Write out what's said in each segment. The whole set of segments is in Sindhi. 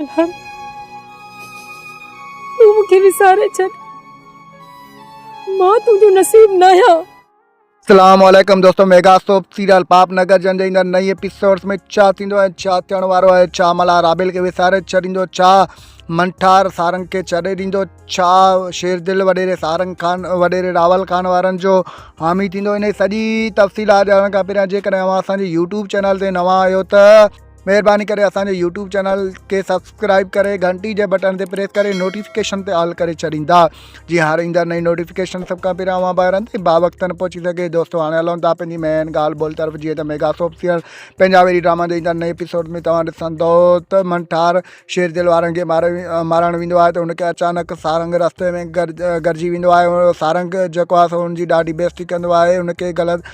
ملهاڻ تون مون کي وساري ڇڏ مان تنهنجو نصيب ناهيان. اسلام عليڪم دوستو ميگا سوپ سيريل پاپ نگر جن جي ايندڙ نئين ايپيسوڊز ۾ ڇا ٿيندو ۽ ڇا ٿيڻ وارو آهي ڇا ملا رابيل کي وساري ڇڏيندو ڇا منٺار سارنگ کي ڇڏي ڏيندو ڇا شير دل وڏيري سارنگ خان وڏيري راول خان وارن جو حامي ٿيندو ان سڄي تفصيلات ڄاڻڻ کان پهريان جيڪڏهن اوهان اسان جي يوٽيوب چينل تي نوان آهيو ته مهرباني ڪري اسان جو يوٽيوب چينل کي سبسڪرائب ڪري گهنٽي جي بٽن تي پريس ڪري نوٽيفڪيشن تي آل ڪري ڇڏيندا جي هاڻ ايندڙ نئين نوٽيفڪيشن سڀ کان پهريان اوهان ٻاهران تائين با وقتن پهچي سگهي دوستو هاڻي هلون ٿا پنهنجي مين ڳالهه ٻولهه طرف جيئن ته ميگا سوپ سيئر پنهنجا ويري ڊراما جي ايندڙ نئين ايپيسوڊ ۾ توهان ڏسندو ته منٺار شير دل وارن کي مار مارڻ ويندو آهي ته هن کي اچانڪ سارنگ رستي ۾ گڏ گڏجي ويندو آهي سارنگ جيڪو آهي سو هن جي ڏاڍي بيستي ڪندو آهي هن کي غلط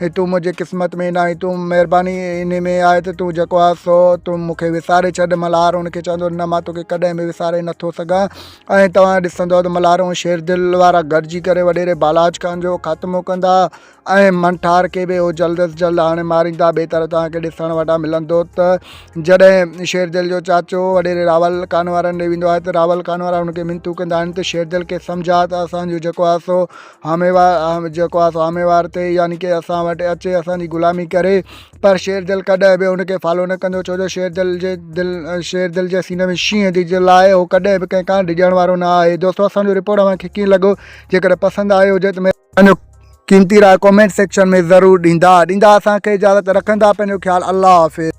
هي تون منهنجي قسمت ۾ ناهين تون مهرباني ان ۾ آهي ته تون جيڪو آهي سو تون مون کي وساري ڇڏ ملهار ان کي چوندو نه مان توکي ڪڏهن به وساري نٿو سگهان ۽ توهان ڏسندو ته ملهار ۽ شير دل وارا گڏجي ڪري وڏيري بالاچ خان جو خاتمو ڪندا ۽ منٺار کي به اهو جلد از جلد آڻي ماريندا ٻئي طرح توهانکي ڏسڻ وٽان ملندو ته جڏهن شير دل جو چاچو وڏيري راول خان وارن ڏي ويندو آهي ته راول خان وارا هن کي منتون ڪندا آهن ته شير دل کي سمجھا ته اسانجو جيڪو آهي سو جيڪو آهي سو آهمي وار تي يعني ڪي اسان وٽ اچي اسانجي غلامي ڪري پر شيرجل ڪڏهن به ان کي فالو نه ڪندو ڇو جو شيرجل جي دل شيرجل جي سيني ۾ شينهن جي دل آهي هو ڪڏهن به ڪنهن کان ڊڄڻ وارو نه آهي دوستو اسانجو رپورٽ اوهان کي ڪيئن لڳو جيڪڏهن پسند آيو هجي ته پنهنجو قيمتي راء ڪمينٽ سيڪشن ۾ ضرور ڏيندا ڏيندا اسان کي اجازت رکندا پنهنجو خيال الله حافظ.